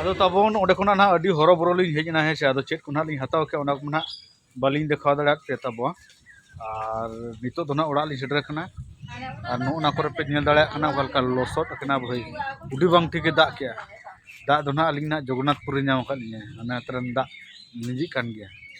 ᱟᱫᱚ ᱛᱟᱵᱚᱱ ᱚᱸᱰᱮ ᱠᱷᱚᱱᱟᱜ ᱱᱟᱦᱟᱜ ᱟᱹᱰᱤ ᱦᱚᱨᱚᱵᱚᱨᱚ ᱞᱤᱧ ᱦᱮᱡ ᱮᱱᱟ ᱦᱮᱸ ᱥᱮ ᱟᱫᱚ ᱪᱮᱫ ᱠᱚ ᱱᱟᱦᱟᱜ ᱞᱤᱧ ᱦᱟᱛᱟᱣ ᱠᱮᱫᱟ ᱚᱱᱟ ᱠᱚ ᱱᱟᱦᱟᱜ ᱵᱟᱹᱞᱤᱧ ᱫᱮᱠᱷᱟᱣ ᱫᱟᱲᱮᱭᱟᱫ ᱯᱮ ᱛᱟᱵᱚᱱᱟ ᱟᱨ ᱱᱤᱛᱚᱜ ᱫᱚ ᱱᱟᱦᱟᱜ ᱚᱲᱟᱜ ᱞᱤᱧ ᱥᱮᱴᱮᱨ ᱟᱠᱟᱱᱟ ᱟᱨ ᱱᱚᱜᱼᱚ ᱱᱟ ᱠᱚᱨᱮ ᱯᱮ ᱧᱮᱞ ᱫᱟᱲᱮᱭᱟᱜ ᱠᱟᱱᱟ ᱚᱠᱟ ᱞᱮᱠᱟ ᱞᱚᱥᱚᱫ ᱟᱠᱟᱱᱟ ᱵᱷᱟᱹᱭ ᱟᱹᱰᱤ ᱵᱟᱝ ᱴᱷᱤᱠᱮ ᱫᱟᱜ ᱠᱮᱜᱼᱟ ᱫᱟᱜ ᱫᱚ ᱱᱟᱦᱟᱜ ᱟᱹᱞᱤᱧ ᱱᱟᱦᱟᱜ ᱡᱚᱜᱚᱱᱱᱟᱛᱷᱯᱩᱨ ᱨᱮ ᱧᱟᱢ ᱟᱠᱟᱫ ᱞᱤᱧᱟᱹ ᱚᱱᱟ ᱛᱚᱨᱟᱱ ᱫᱟᱜ ᱞᱤᱸᱡᱤᱜ ᱠᱟᱱ ᱜᱮᱭᱟ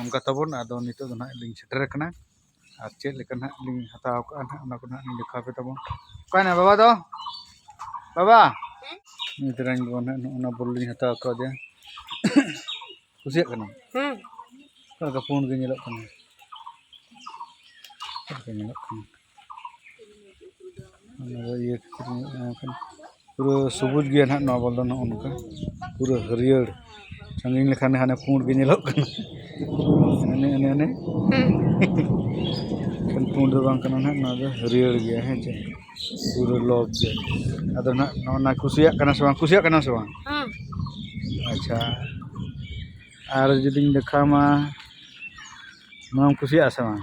ᱚᱱᱠᱟ ᱛᱟᱵᱚᱱ ᱟᱫᱚ ᱱᱤᱛᱚᱜ ᱫᱚ ᱱᱟᱦᱟᱜ ᱞᱤᱧ ᱥᱮᱴᱮᱨ ᱟᱠᱟᱱᱟ ᱟᱨ ᱪᱮᱫ ᱞᱮᱠᱟ ᱱᱟᱦᱟᱜ ᱞᱤᱧ ᱦᱟᱛᱟᱣ ᱠᱟᱜᱼᱟ ᱱᱟᱦᱟᱜ ᱚᱱᱟ ᱠᱚ ᱱᱟᱦᱟᱜ ᱞᱤᱧ ᱫᱮᱠᱷᱟᱣ ᱯᱮ ᱛᱟᱵᱚᱱ ᱚᱠᱟᱭᱮᱱᱟ ᱵᱟᱵᱟ ᱫᱚ ᱵᱟᱵᱟ ᱱᱩᱭ ᱛᱮᱨᱟᱧ ᱵᱟᱵᱟ ᱱᱟᱦᱟᱜ ᱱᱚᱜᱼᱚ ᱱᱟ ᱵᱚᱞ ᱞᱤᱧ ᱦᱟᱛᱟᱣ ᱠᱟᱣᱫᱮᱭᱟ ᱠᱩᱥᱤᱭᱟᱜ ᱠᱟᱱᱟᱢ ᱦᱮᱸ ᱚᱠᱟ ᱞᱮᱠᱟ ᱯᱩᱸᱰ ᱜᱮ ᱧᱮᱞᱚᱜ ᱠᱟᱱᱟ ᱚᱠᱟ ᱞᱮᱠᱟ ᱧᱮᱞᱚᱜ ᱠᱟᱱᱟ ᱱᱚᱣᱟ ᱤᱭᱟᱹ ᱯᱩᱨᱟᱹ ᱥᱚᱵᱩᱡᱽ ᱜᱮᱭᱟ ᱱᱟᱦᱟᱜ ᱱᱚᱣᱟ ᱵᱚᱞ ᱫᱚ ᱱᱚᱜᱼᱚ ᱱᱚᱝᱠᱟ ᱯᱩᱨᱟᱹ ᱦᱟᱹᱨᱭᱟᱹᱲ ᱥᱟᱺᱜᱤᱧ ᱞᱮᱠᱷᱟᱱ ᱦᱟᱱᱮ ᱯᱩᱸᱰ ᱜᱮ ᱧᱮᱞᱚᱜ ᱠᱟᱱᱟ ᱮᱱᱮ ᱮᱱᱮ ᱮᱱᱮ ᱮᱠᱷᱮᱱ ᱯᱩᱸᱰ ᱫᱚ ᱵᱟᱝ ᱠᱟᱱᱟ ᱱᱟᱦᱟᱜ ᱱᱚᱣᱟ ᱫᱚ ᱦᱟᱹᱨᱭᱟᱹᱲ ᱜᱮᱭᱟ ᱦᱮᱸ ᱪᱮ ᱯᱩᱨᱟᱹ ᱞᱚᱵᱽ ᱜᱮ ᱟᱫᱚ ᱱᱟᱦᱟᱜ ᱱᱚᱜᱼᱚ ᱱᱟ ᱠᱩᱥᱤᱭᱟᱜ ᱠᱟᱱᱟ ᱥᱮ ᱵᱟᱝ ᱠᱩᱥᱤᱭᱟᱜ ᱠᱟᱱᱟ ᱥᱮ ᱵᱟᱝ ᱟᱪᱪᱷᱟ ᱟᱨ ᱡᱩᱫᱤᱧ ᱫᱮᱠᱷᱟᱣᱟᱢᱟ ᱱᱚᱣᱟᱢ ᱠᱩᱥᱤᱭᱟᱜᱼᱟ ᱥᱮ ᱵᱟᱝ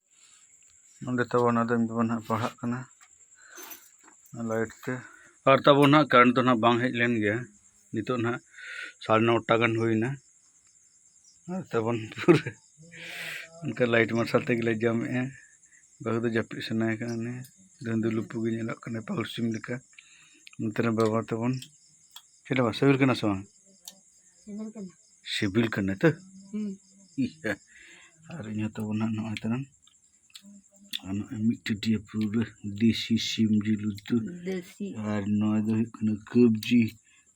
ᱱᱚᱸᱰᱮ ᱛᱟᱵᱚᱱ ᱟᱫᱚ ᱤᱧ ᱵᱟᱵᱟ ᱱᱟᱦᱟᱜ ᱯᱟᱲᱦᱟᱜ ᱠᱟᱱᱟ ᱞᱟᱭᱤᱴ ᱛᱮ ᱟᱨ ᱛᱟᱵᱚᱱ ᱱᱟᱦᱟᱜ ᱠᱟᱨᱮᱱᱴ ᱫᱚ ᱱᱟᱦᱟᱜ ᱵᱟᱝ ᱦᱮᱡ ᱞᱮᱱ ᱜᱮᱭᱟ ᱱᱤᱛᱚᱜ ᱱᱟᱦᱟᱜ ᱥᱟᱲᱮ ᱱᱚᱴᱟ ᱜᱟᱱ ᱦᱩᱭᱱᱟ ᱟᱨ ᱛᱟᱵᱚᱱ ᱯᱩᱨᱟᱹ ᱚᱱᱠᱟ ᱞᱟᱭᱤᱴ ᱢᱟᱨᱥᱟᱞ ᱛᱮᱜᱮᱞᱮ ᱡᱚᱢᱮᱜᱼᱟ ᱵᱟᱹᱦᱩ ᱫᱚ ᱡᱟᱹᱯᱤᱫ ᱥᱟᱱᱟᱭᱮ ᱠᱟᱱᱟ ᱩᱱᱤ ᱫᱩᱸᱫᱩ ᱞᱩᱯᱩ ᱜᱮ ᱧᱮᱞᱚᱜ ᱠᱟᱱᱟ ᱯᱟᱹᱦᱩᱲ ᱥᱤᱢ ᱞᱮᱠᱟ ᱱᱚᱛᱮ ᱨᱮ ᱵᱟᱵᱟ ᱛᱟᱵᱚᱱ ᱪᱮᱫ ᱵᱟᱝ ᱥᱤᱵᱤᱞ ᱠᱟᱱᱟ ᱥᱮ ᱵᱟᱝ ᱥᱤᱵᱤᱞ ᱠᱟᱱᱟ ᱛᱚ ᱟᱨ ᱤᱧ ᱦᱚᱸ ᱛᱟᱵᱚᱱ ᱦᱟᱸᱜ ᱱᱚᱜᱼᱚᱭ ᱛᱟᱨᱟᱝ ᱟᱨ ᱱᱚᱜᱼᱚᱭ ᱢᱤᱫ ᱴᱟᱹᱴᱤᱭᱟᱹ ᱯᱩᱨᱟᱹ ᱫᱮᱥᱤ ᱥᱤᱢ ᱡᱤᱞ ᱩᱛᱩ ᱟᱨ ᱱᱚᱣᱟ ᱫᱚ ᱦᱩᱭᱩᱜ ᱠᱟᱱᱟ ᱠᱟᱵᱽᱡᱤ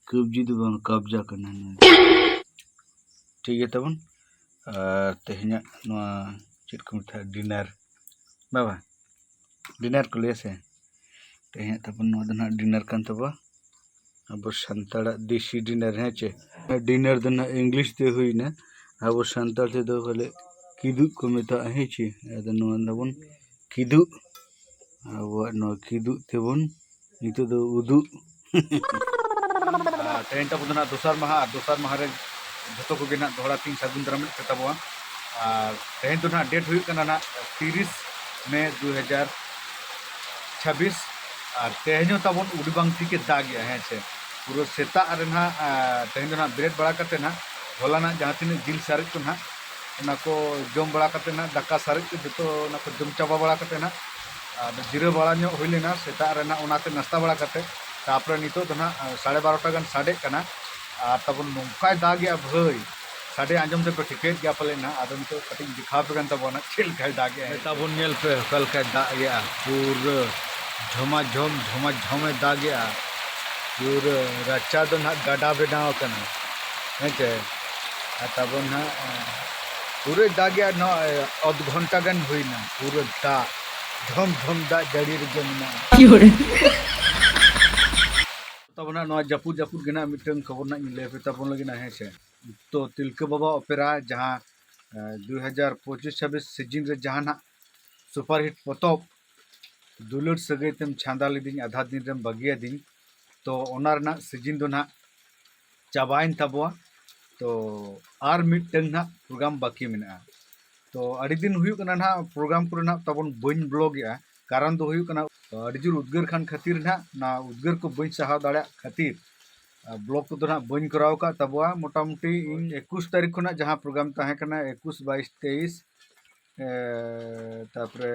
ᱠᱟᱵᱽᱡᱤ ᱫᱚ ᱵᱟᱝ ᱠᱟᱵᱽᱡᱟ ᱠᱟᱱᱟ ᱱᱚᱣᱟ ᱴᱷᱤᱠ ᱜᱮᱭᱟ ᱛᱟᱵᱚᱱ ᱟᱨ ᱛᱮᱦᱮᱧᱟᱜ ᱱᱚᱣᱟ ᱪᱮᱫ ᱠᱚ ᱢᱮᱛᱟᱜᱼᱟ ᱰᱤᱱᱟᱨ ᱵᱟᱵᱟ ᱰᱤᱱᱟᱨ ᱠᱚ ᱞᱟᱹᱭᱟ ᱥᱮ ᱛᱮᱦᱮᱧᱟᱜ ᱛᱟᱵᱚᱱ ᱱᱚᱣᱟ ᱫᱚ ᱱᱟᱦᱟᱜ ᱰᱤᱱᱟᱨ ᱠᱟᱱ ᱛᱟᱵᱚᱱᱟ ᱟᱵᱚ ᱥᱟᱱᱛᱟᱲᱟᱜ ᱫᱮᱥᱤ ᱰᱤᱱᱟᱨ ᱦᱮᱸ ᱪᱮ ᱰᱤᱱᱟᱨ ᱫᱚ ᱱᱟᱦᱟᱜ ᱤᱝᱞᱤᱥ ᱛᱮ ᱦᱩᱭᱱᱟ ᱟᱵᱚ ᱥᱟᱱᱛᱟᱲ ᱛᱮᱫᱚ ᱵᱚᱞᱮ ᱠᱤᱫᱩᱵ ᱠᱚ ᱢᱮᱛᱟᱜᱼᱟ ᱦᱮᱸ ᱪᱮ ᱟᱫᱚ ᱱᱚᱣᱟ ᱫᱟᱵᱚᱱ ᱠᱤᱫᱩᱵ ᱟᱵᱚᱣᱟᱜ ᱱᱚᱣᱟ ᱠᱤᱫᱩᱵ ᱛᱮᱵᱚᱱ ᱱᱤᱛᱚᱜ ᱫᱚ ᱩᱫᱩᱜ ᱛᱮᱦᱮᱧ ᱛᱟᱵᱚ ᱫᱚ ᱱᱟᱜ ᱫᱚᱥᱟᱨ ᱢᱟᱦᱟ ᱟᱨ ᱫᱚᱥᱟᱨ ᱢᱟᱦᱟ ᱨᱮ ᱡᱚᱛᱚ ᱠᱚᱜᱮ ᱱᱟᱜ ᱫᱚᱦᱲᱟ ᱛᱤᱧ ᱥᱟᱹᱜᱩᱱ ᱫᱟᱨᱟᱢᱮᱫ ᱯᱮ ᱛᱟᱵᱚᱣᱟ ᱟᱨ ᱛᱮᱦᱮᱧ ᱫᱚ ᱱᱟᱜ ᱰᱮᱴ ᱦᱩᱭᱩᱜ ᱠᱟᱱᱟ ᱱᱟᱜ ᱛᱤᱨᱤᱥ ᱢᱮ ᱫᱩ ᱦᱟᱡᱟᱨ ᱪᱷᱟᱵᱤᱥ ᱟᱨ ᱛᱮᱦᱮᱧ ᱦᱚᱸ ᱛᱟᱵᱚᱱ ᱩᱰᱤ ᱵᱟᱝ ᱴᱷᱤᱠᱮ ᱫᱟᱜ ᱜᱮᱭᱟ ᱦᱮᱸ ᱥᱮ ᱯᱩᱨᱟᱹ ᱥᱮᱛᱟᱜ ᱨᱮ ᱱᱟᱜ ᱛᱮᱦᱮᱧ ᱫᱚ ᱱᱟᱜ ᱵᱮᱨᱮᱫ ᱵᱟᱲᱟ ᱠᱟᱛᱮ ᱱᱟᱜ ᱦᱚᱞᱟ ᱱᱟᱜ ᱡᱟᱦᱟᱸ ᱛᱤᱱᱟᱹᱜ ᱡᱤᱞ ᱥᱟᱨᱮᱡ ᱠᱚ ᱱᱟᱜ ᱚᱱᱟ ᱠᱚ ᱡᱚᱢ ᱵᱟᱲᱟ ᱠᱟᱛᱮ ᱱᱟᱜ ᱫᱟᱠᱟ ᱥᱟᱨᱮᱡ ᱠᱚ ᱡᱚᱛᱚ ᱚᱱᱟ ᱠᱚ ᱡᱚᱢ ᱪᱟᱵᱟ ᱵᱟᱲᱟ ᱠᱟᱛᱮ ᱱᱟᱜ ᱟᱫᱚ ᱡᱤᱨᱟᱹᱣ ᱵᱟᱲᱟ ᱧᱚᱜ ᱦᱩᱭ ᱞᱮᱱᱟ ᱥᱮᱛᱟᱜ ᱨᱮ ᱱᱟᱜ ᱚᱱᱟᱛᱮ ᱱᱟᱥᱛᱟ ᱵᱟᱲᱟ ᱠᱟᱛᱮ ᱛᱟᱯᱚᱨᱮ ᱱᱤᱛᱚᱜ ᱫᱚ ᱱᱟᱜ ᱥᱟᱲᱮ ᱵᱟᱨᱚᱴᱟ ᱜᱟᱱ ᱥᱟᱰᱮᱜ ᱠᱟᱱᱟ ᱟᱨ ᱛᱟᱵᱚᱱ ᱱᱚᱝᱠᱟᱭ ᱫᱟᱜᱮᱜᱼᱟ ᱵᱷᱟᱹᱭ ᱥᱟᱰᱮ ᱟᱸᱡᱚᱢ ᱛᱮᱯᱮ ᱴᱷᱤᱠᱟᱹᱭᱮᱫ ᱜᱮᱭᱟ ᱯᱟᱞᱮ ᱱᱟᱜ ᱟᱫᱚ ᱱᱤᱛᱚᱜ ᱠᱟᱹᱴᱤᱡ ᱤᱧ ᱫᱮᱠᱷᱟᱣ ᱟᱯᱮ ᱠᱟᱱ ᱛᱟᱵᱚᱱᱟ ᱪᱮᱫ ᱞᱮᱠᱟᱭ ᱫᱟᱜᱮᱜᱼᱟ ᱛᱟᱵᱚᱱ ᱧᱮᱞ ᱯᱮ ᱚᱠᱟ ᱞᱮᱠᱟᱭ ᱫᱟᱜᱮᱜᱼᱟ ᱯᱩᱨᱟᱹ ᱡᱷᱚᱢᱟ ᱡᱷᱚᱢ ᱡᱷᱚᱢᱟ ᱡᱷᱚᱢᱮ ᱫᱟᱜᱮᱜᱼᱟ ᱯᱩᱨᱟᱹ ᱨᱟᱪᱟ ᱫᱚ ᱱᱟᱜ ᱜᱟᱰᱟ ᱵᱮᱱᱟᱣ ᱟᱠᱟᱱᱟ ᱦᱮᱸᱪᱮ ᱟᱨ ᱛᱟᱵᱚᱱ ᱱᱟᱜ ᱯᱩᱨᱟᱹᱭ ᱫᱟᱜᱮᱜᱼᱟ ᱱᱚᱜᱼᱚᱭ ᱚᱫᱷ ᱜᱷᱚᱱᱴᱟ ᱜᱟᱱ ᱦᱩᱭᱱᱟ ᱯᱩᱨᱟᱹ ᱫᱟᱜ ᱫᱷᱚᱢ ᱫᱷᱚᱢ ᱫᱟᱜ ᱡᱟᱹᱲᱤ ᱨᱮᱜᱮ ᱢᱮᱱᱟᱜᱼᱟ ᱛᱟᱵᱚᱱᱟ ᱱᱚᱣᱟ ᱡᱟᱹᱯᱩᱫ ᱡᱟᱹᱯᱩᱫ ᱜᱮ ᱱᱟᱜ ᱢᱤᱫᱴᱟᱝ ᱠᱷᱚᱵᱚᱨ ᱱᱟᱜ ᱤᱧ ᱞᱟᱹᱭ ᱯᱮ ᱛᱟᱵᱚᱱ ᱞᱟᱹᱜᱤᱫ ᱦᱮᱸ ᱥᱮ ᱛᱚ ᱛᱤᱞᱠᱟᱹ ᱵᱟᱵᱟ ᱚᱯᱮᱨᱟ ᱡᱟᱦᱟᱸ ᱫᱩ ᱦᱟᱡᱟᱨ ᱯᱚᱸᱪᱤᱥ ᱪᱷᱟᱵᱵᱤᱥ ᱥᱤᱡᱤᱱ ᱨᱮ ᱡᱟᱦᱟᱸ ᱱᱟᱜ ᱥᱩᱯᱟᱨ ᱦᱤᱴ ᱯᱚᱛᱚᱵ ᱫᱩᱞᱟᱹᱲ ᱥᱟᱹᱜᱟᱹᱭ ᱛᱮᱢ ᱪᱷᱟᱸᱫᱟ ᱞᱤᱫᱤᱧ ᱟᱫᱷᱟ ᱫᱤᱱ ᱨᱮᱢ ᱵᱟᱹᱜᱤᱭᱟᱫᱤᱧ ᱛᱚ ᱚᱱᱟ ᱨᱮᱱᱟᱜ ᱥᱤᱡᱤᱱ ᱫᱚ ᱱᱟᱜ ᱪᱟᱵᱟᱭᱮᱱ ᱛᱟᱵᱚᱣᱟ ᱛᱚ ᱟᱨ ᱢᱤᱫᱴᱟᱝ ᱱᱟᱜ ᱯᱨᱳᱜᱨᱟᱢ ᱵᱟᱹᱠᱤ ᱢᱮᱱᱟᱜᱼᱟ ᱛᱚ ᱟᱹᱰᱤ ᱫᱤᱱ ᱦᱩᱭᱩᱜ ᱠᱟᱱᱟ ᱱᱟᱜ ᱯᱨᱳᱜᱨᱟᱢ ᱠᱚᱨᱮ ᱱᱟᱜ ᱛᱟᱵᱚᱱ ᱵᱟᱹᱧ ᱵᱞᱚᱜᱮᱜᱼᱟ ᱠᱟᱨᱚᱱ ᱫᱚ ᱦᱩᱭᱩᱜ ᱠᱟᱱᱟ ᱟᱹᱰᱤ ᱡᱳᱨ ᱩᱫᱽᱜᱟᱹᱨ ᱠᱟᱱ ᱠᱷᱟᱹᱛᱤᱨ ᱱᱟᱜ ᱚᱱᱟ ᱩᱫᱽᱜᱟᱹᱨ ᱠᱚ ᱵᱟᱹᱧ ᱥᱟᱦᱟᱣ ᱫᱟᱲᱮᱭᱟᱜ ᱠᱷᱟᱹᱛᱤᱨ ᱵᱞᱚᱜ ᱠᱚᱫᱚ ᱱᱟᱜ ᱵᱟᱹᱧ ᱠᱚᱨᱟᱣ ᱟᱠᱟᱫ ᱛᱟᱵᱚᱣᱟ ᱢᱚᱴᱟᱢᱩᱴᱤ ᱤᱧ ᱮᱠᱩᱥ ᱛᱟᱹᱨᱤᱠᱷ ᱠᱷᱚᱱᱟᱜ ᱡᱟᱦᱟᱸ ᱯᱨᱳᱜᱨᱟᱢ ᱛᱟᱦᱮᱸ ᱠᱟᱱᱟ ᱮᱠᱩᱥ ᱵᱟᱭᱤᱥ ᱛᱮᱭᱤᱥ ᱛᱟᱨᱯᱚᱨᱮ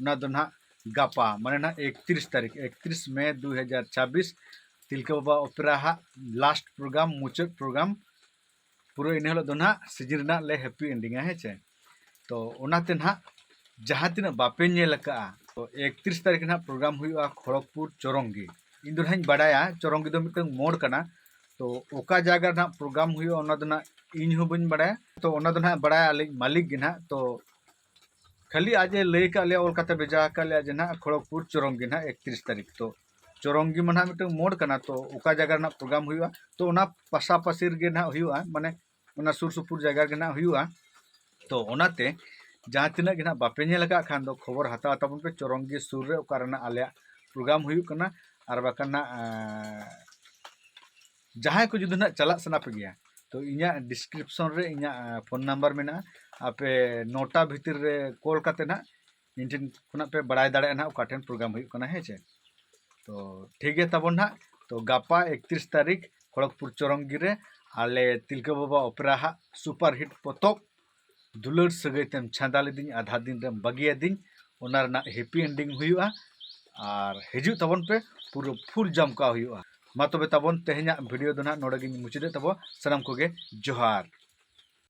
ᱚᱱᱟ ᱫᱚ ᱱᱟᱦᱟᱜ ᱜᱟᱯᱟ ᱢᱟᱱᱮ ᱱᱟᱦᱟᱜ ᱮᱠᱛᱨᱤᱥ ᱛᱟᱹᱨᱤᱠᱷ ᱮᱠᱛᱨᱤᱥ ᱢᱮ ᱫᱩ ᱦᱟᱡᱟᱨ ᱪᱷᱟᱵᱵᱤᱥ ᱛᱤᱞᱠᱟᱹ ᱵᱟᱵᱟ ᱚᱯᱮᱨᱟ ᱦᱟᱜ ᱞᱟᱥᱴ ᱯᱨᱳᱜᱨᱟᱢ ᱢᱩᱪᱟᱹᱫ ᱯᱨᱳᱜᱨᱟᱢ ᱯᱩᱨᱟᱹ ᱤᱱᱟᱹ ᱦᱤᱞᱳᱜ ᱫᱚ ᱱᱟᱦᱟᱜ ᱥᱤᱡᱤᱱ ᱨᱮᱱᱟᱜ ᱞᱮ ᱦᱮᱯᱤ ᱮᱱᱰᱤᱝᱟ ᱦᱮᱸ ᱪᱮ ᱛᱚ ᱚᱱᱟᱛᱮ ᱱᱟᱦᱟᱜ ᱡᱟᱦᱟᱸ ᱛᱤᱱᱟᱹᱜ ᱵᱟᱯᱮ ᱧᱮᱞ ᱟᱠᱟᱜᱼᱟ ᱛᱚ ᱮᱠᱛᱨᱤᱥ ᱛᱟᱹᱨᱤᱠᱷ ᱱᱟᱦᱟᱜ ᱯᱨᱳᱜᱨᱟᱢ ᱦᱩᱭᱩᱜᱼᱟ ᱠᱷᱚᱲᱚᱜᱽᱯᱩᱨ ᱪᱚᱨᱚᱝᱜᱤ ᱤᱧ ᱫᱚ ᱱᱟᱦᱟᱜ ᱤᱧ ᱵᱟᱰᱟᱭᱟ ᱪᱚᱨᱚᱝᱜᱤ ᱫᱚ ᱢᱤᱫᱴᱟᱝ ᱢᱳᱲ ᱠᱟᱱᱟ ᱛᱚ ᱚᱠᱟ ᱡᱟᱭᱜᱟ ᱨᱮᱱᱟᱜ ᱯᱨᱳᱜᱨᱟᱢ ᱦᱩᱭᱩᱜᱼᱟ ᱚᱱᱟ ᱫᱚ ᱱᱟᱦᱟᱜ ᱤᱧ ᱦᱚᱸ ᱵᱟᱹᱧ ᱵᱟᱰᱟᱭᱟ ᱛᱚ ᱚᱱᱟ ᱫᱚ ᱱᱟᱦᱟᱜ ᱵᱟᱰᱟᱭᱟ ᱟᱞᱤᱧ ᱢᱟᱹᱞᱤᱠ ᱜᱮ ᱱᱟᱦᱟᱜ ᱛᱚ ᱠᱷᱟᱹᱞᱤ ᱟᱡ ᱮ ᱞᱟᱹᱭ ᱟᱠᱟᱫ ᱞᱮᱭᱟ ᱚᱞ ᱠᱟᱛᱮ ᱵᱷᱮᱡᱟ ᱟᱠᱟᱫ ᱞᱮᱭᱟ ᱡᱮ ᱱᱟᱦᱟᱜ ᱠᱷᱚᱲᱚᱜᱽᱯᱩᱨ ᱪᱚᱨᱚᱝᱜᱤ ᱱᱟᱦᱟᱜ ᱮᱠᱛᱨᱤᱥ ᱛᱟᱹᱨᱤᱠᱷ ᱛᱚ ᱪᱚᱨᱚᱝᱜᱤ ᱢᱟ ᱱᱟᱦᱟᱜ ᱢᱤᱫᱴᱟᱝ ᱢᱳᱰ ᱠᱟᱱᱟ ᱛᱚ ᱚᱠᱟ ᱡᱟᱭᱜᱟ ᱨᱮᱱᱟᱜ ᱯᱨᱳᱜᱨᱟᱢ ᱦᱩᱭᱩᱜᱼᱟ ᱛᱚ ᱚᱱᱟ ᱯᱟᱥᱟᱯᱟᱥᱤ ᱨᱮᱜᱮ ᱱᱟᱦᱟᱜ ᱦᱩᱭᱩᱜᱼᱟ ᱢᱟᱱᱮ ᱚᱱᱟ ᱥᱩᱨ ᱥᱩᱯᱩᱨ ᱡᱟᱭᱜᱟ ᱨᱮᱜᱮ ᱱᱟᱦᱟᱜ ᱦᱩᱭᱩᱜᱼᱟ ᱛᱚ ᱚᱱᱟᱛᱮ ᱡᱟᱦᱟᱸ ᱛᱤᱱᱟᱹᱜ ᱜᱮ ᱱᱟᱦᱟᱜ ᱵᱟᱯᱮ ᱧᱮᱞ ᱟᱠᱟᱫ ᱠᱷᱟᱱ ᱫᱚ ᱠᱷᱚᱵᱚᱨ ᱦᱟᱛᱟᱣ ᱛᱟᱵᱚᱱ ᱯᱮ ᱪᱚᱨᱚᱝᱜᱤ ᱥᱩᱨ ᱨᱮ ᱚᱠᱟ ᱨᱮᱱᱟᱜ ᱟᱞᱮᱭᱟᱜ ᱯᱨᱳᱜᱨᱟᱢ ᱦᱩᱭᱩᱜ ᱠᱟᱱᱟ ᱟᱨ ᱵᱟᱠᱷᱟᱱ ᱱᱟᱦᱟᱜ ᱡᱟᱦᱟᱸᱭ ᱠᱚ ᱡᱩᱫᱤ ᱱᱟᱜ ᱪᱟᱞᱟᱜ ᱥᱟᱱᱟ ᱯᱮ ᱜᱮᱭᱟ ᱛᱚ ᱤᱧᱟᱹᱜ ᱰᱤᱥᱠᱨᱤᱯᱥᱚᱱ ᱨᱮ ᱤᱧᱟᱹᱜ ᱯᱷᱳᱱ ᱱᱟᱢᱵᱟᱨ ᱢᱮᱱᱟᱜᱼᱟ ᱟᱯᱮ ᱱᱚᱴᱟ ᱵᱷᱤᱛᱤᱨ ᱨᱮ ᱠᱚᱞ ᱠᱟᱛᱮ ᱱᱟᱜ ᱤᱧ ᱴᱷᱮᱱ ᱠᱷᱚᱱᱟᱜ ᱯᱮ ᱵᱟᱲᱟᱭ ᱫᱟᱲᱮᱭᱟᱜᱼᱟ ᱱᱟᱜ ᱚᱠᱟ ᱴᱷᱮᱱ ᱯᱨᱳᱜᱨᱟᱢ ᱦᱩᱭᱩᱜ ᱠᱟᱱᱟ ᱦᱮᱸ ᱪᱮ ᱛᱚ ᱴᱷᱤᱠ ᱜᱮᱭᱟ ᱛᱟᱵᱚᱱ ᱱᱟᱜ ᱛᱚ ᱜᱟᱯᱟ ᱮᱠᱛᱨᱤᱥ ᱛᱟᱹᱨᱤᱠᱷ ᱠᱷᱚᱲᱚᱜᱽᱯᱩᱨ ᱪᱚᱨᱚᱝᱜᱤ ᱨᱮ ᱟᱞᱮ ᱛᱤᱞᱠᱟᱹ ᱵᱟᱵᱟ ᱚᱯᱮᱨᱟ ᱦᱟᱜ ᱥᱩᱯᱟᱨ ᱦᱤᱴ ᱯᱚᱛᱚᱵ ᱫᱩᱞᱟᱹᱲ ᱥᱟᱹᱜᱟᱹᱭ ᱛᱮᱢ ᱪᱷᱟᱸᱫᱟ ᱞᱤᱫᱤᱧ ᱟᱫᱷᱟ ᱫᱤᱱ ᱨᱮᱢ ᱵᱟᱹᱜᱤ ᱟᱹᱫᱤᱧ ᱚᱱᱟ ᱨᱮᱱᱟᱜ ᱦᱮᱯᱤ ᱮᱱᱰᱤᱝ ᱦᱩᱭᱩᱜᱼᱟ ᱟᱨ ᱦᱤᱡᱩᱜ ᱛᱟᱵᱚᱱ ᱯᱮ ᱯᱩᱨᱟᱹ ᱯᱷᱩᱞ ᱡᱚᱢ ᱠᱟᱜ ᱦᱩᱭᱩᱜᱼᱟ ᱢᱟ ᱛᱚᱵᱮ ᱛᱟᱵᱚᱱ ᱛᱮᱦᱮᱧᱟᱜ ᱵᱷᱤᱰᱤᱭᱳ ᱫᱚ ᱱᱟᱦᱟᱜ ᱱᱚᱰᱮ ᱜᱤᱧ ᱢᱩᱪᱟᱹᱫᱮᱫ ᱛᱟᱵᱚᱱᱟ ᱥᱟᱱᱟᱢ ᱠᱚᱜᱮ ᱡᱚᱦᱟᱨ